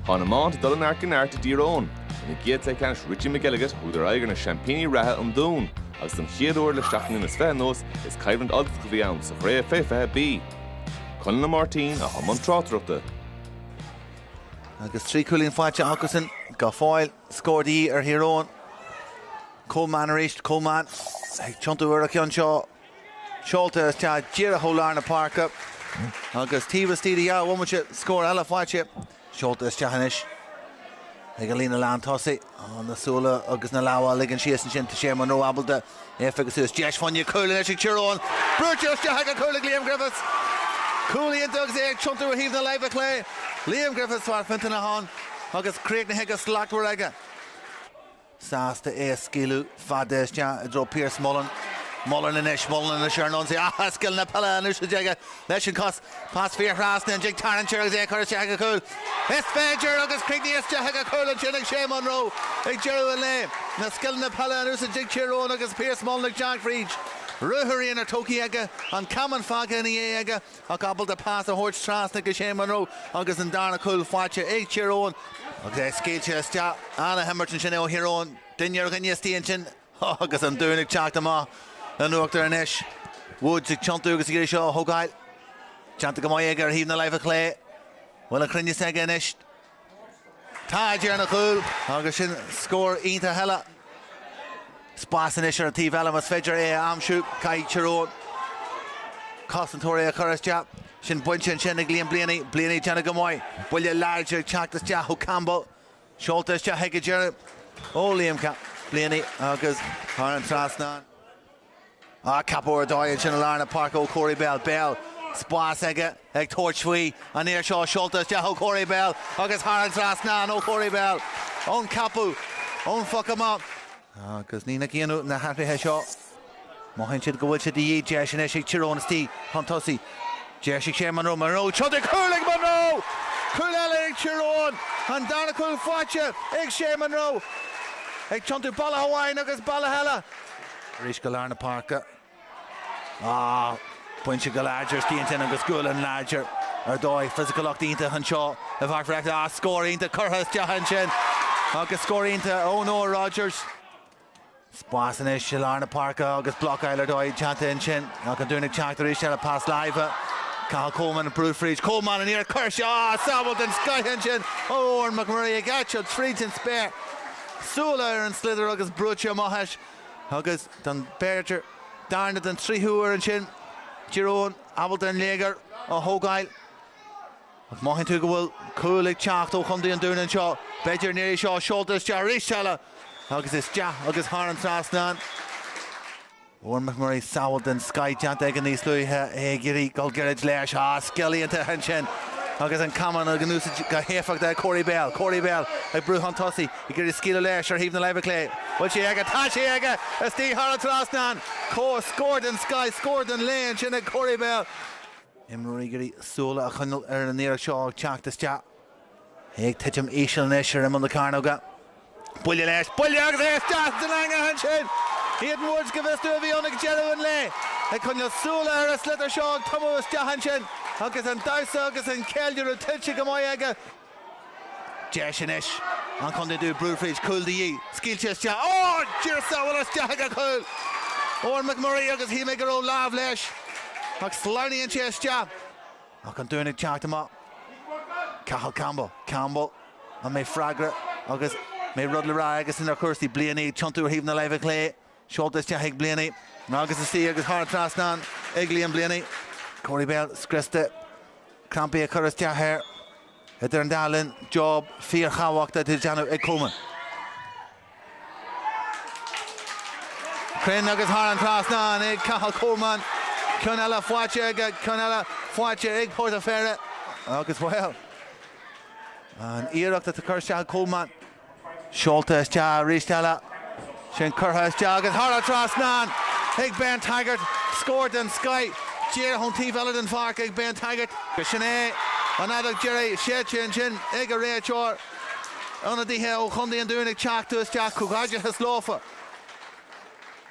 Tá an iomáint ag dul ó neart go neart i dTír Eoghain. Ina gcéad cluiche ceannais Richie McElligott thugadar aghaidh ar na seaimpíní reatha, an Dún, agus don chéad uair le seacht mbliana is fiche anuas is coimhlint Ultach a bhí ann sa chraobh fé 20B. Conall Ó Máirtín atá i mbun tráchtaireachta. Agus trí chúilín faighte acusan go fóill, scór de dhíth ar Thír Eoghain. Coleman arís, Coleman ag tiontú ar an cheann seo. Seolta isteach díreach ó lár na páirce agus taobh istigh de dhá bhomaite scór eile faighte. Seolta isteach anois ag an líne lán tosaigh. Na súile agus na lámha á ligean síos ansin. Tá Shea Munroe ábalta é a phiocadh suas. Deis fá choinne cúil anois ag Tír Eoghain. Brúite isteach ag an chúl ag Liam Griffiths. Cúl iontach agus é ag tiontú ar thaobh na láimhe clé. Liam Griffiths, fear Fintan Aháin agus críochnaithe go slachtmhar aige. sásta é a scaoileadh fada isteach i dtreo Pierce. Mullen. Mullen anois. Mullen anois ar an ionsaí. Ach scileanna peile in úsáid aige leis an chos. Pas fiarthrasna, an dtig tarraingt air agus é a chur isteach ag an chúl. Is féidir agus críochnaithe isteach ag an chúl ansin ag Shea Munroe ag deireadh an lae. Na scileanna peile in úsáid ag Tír Eoghain agus Pierce Mullen ag teacht fríd. Ruathar aonair tógtha aige. An camán fágtha ina dhiaidh aige. Ach ábalta pas a thabhairt trasna go Shea Munroe agus an darna cúl faighte ag Tír Eoghain agus é scaoilte isteach. An-imirt ansin ó Thír Eoghain, duine ar dhuine istigh ansin agus an Dún ag teacht amach in uachtar anois. Woods ag tiontú agus ag iarraidh seo a thógáil. Déanta go maith aige ar thaobh na láimhe clé. Bhfuil an cruinneas aige anois? Tá J ar an gcúl agus sin scór iontach eile. Spás anois ar an taobh eile más féidir é a aimsiú. Caithfidh Tír Eoghain cosantóirí a chur isteach. Sin bainte ansin ag Liam Blaney. Blaney ag déanamh go maith. Buille láidir ag teacht isteach ó Campbell. Seolta isteach ag an deireadh ó Liam Blaney agus thar an trasnán. Ach ceapadh ar dóigh ansin i lár na páirce ó Corey Bell. Bell, spás aige ag tabhairt faoi. An iarracht seo seolta isteach ó Corey Bell agus thar an trasnán ó Corey Bell ón ceapadh ón phoc amach. Agus ní nach ionadh na hathruithe seo. Mothaíonn siad go bhfuil sé de dhíth. Deis anois ag Tír Eoghain istigh chun tosaigh. Deis ag Shea Munroe. Munroe ag tiontú, cúl ag Munroe! Cúl eile ag Tír Eoghain. An darna cúl faighte ag Shea Munroe. Ag tiontú bealach amháin agus bealach eile. Arís go lár na páirce. Bainte go láidir istigh ansin agus gualainn láidir ar dóigh. Fisiciúlacht iontach anseo i bPáirc Bhreifne. Scór iontach curtha isteach ansin agus scór iontach ó Noah Rogers. Spás anois i lár na páirce agus blocáil ar dóigh déanta ansin. Ach an Dún ag teacht arís le pas láimhe. Cathal Coleman ag brú fríd. Coleman an iarracht seo, sábháil den scoith ansin ó Eoghan McMurray ag eitilt fríd an spéir. súile ar an sliotar agus brúite amach as agus d'fhan b'fhéidir darna nó an tríú huair ansin Tír Eoghain ábalta an léigear a thógáil ach mothaíonn tú go bhfuil cúl ag teacht ó chontae an Dúin anseo b'fhéidir an iarraidh seo seolta isteach arís eile agus isteach agus thar an trasnán. Bhfuair McMurray sábháil den scoith déanta aige níos luaithe, é ag iarraidh dul gairid leis. Á, scil iontach ansin agus an camán á úsáid go héifeachtach ag Corey Bell. Corey Bell ag brú chun tosaigh, ag iarraidh scaoileadh leis ar thaobh na láimhe clé. Bhfuil sí aige? Tá sí aige! Istigh thar an trasnán! Scór den scoith, scór den lae ansin ag Corey Bell. Imreoirí ag iarraidh súil a choinneáil ar an iarracht seo ag teacht isteach. Ag titim íseal anois ar imeall na cearnóga. Buille leis, buille agus é isteach san eangach ansin! Hayden Woods, go bhfios domh, a bhí ann ag deireadh an lae. Ag coinneáil súile ar an sliotar seo ag tumadh isteach ansin agus an damhsa agus an ceiliúradh tuillte go maith aige. Deis anois ag an Chontae Dúin brú fríd, cúl de dhíth, scaoilte isteach, á! Dhírigh sábháil isteach i gcúl! Eoghan McMurray agus shíl mé go raibh lámh leis ach sleamhnaíonn sé isteach. Ach an Dún ag teacht amach. Cathal Campbell, Campbell, an mbeidh freagra agus an mbeidh rud le rá aigesan ar chúrsaí? Blaney ag tiontú ar thaobh na láimhe clé. Seolta isteach ag Blaney agus istigh agus thar trasnán ag Liam Blaney. Corey Bell scriosta. Crampaí ag cur isteach air. Idir an dá linn, job fíorthábhachtach le déanamh ag Coleman. Cruinn agus thar an trasnán ag Cathal Coleman. Ceann eile faighte aige, ceann eile faighte ag Port an Pheire agus, bhuel, an iarracht atá curtha isteach ag Coleman. Seolta isteach arís eile. Sin curtha isteach agus thar an trasnán ag Ben Taggart. Scór den scoith díreach chun taobh eile den pháirc ag Ben Taggart. Sin é an fheadóg dheiridh séidte ansin ag an réiteoir. Ionadaithe ó Chontae an Dúin ag teacht isteach. Comhghairdeachas leofa.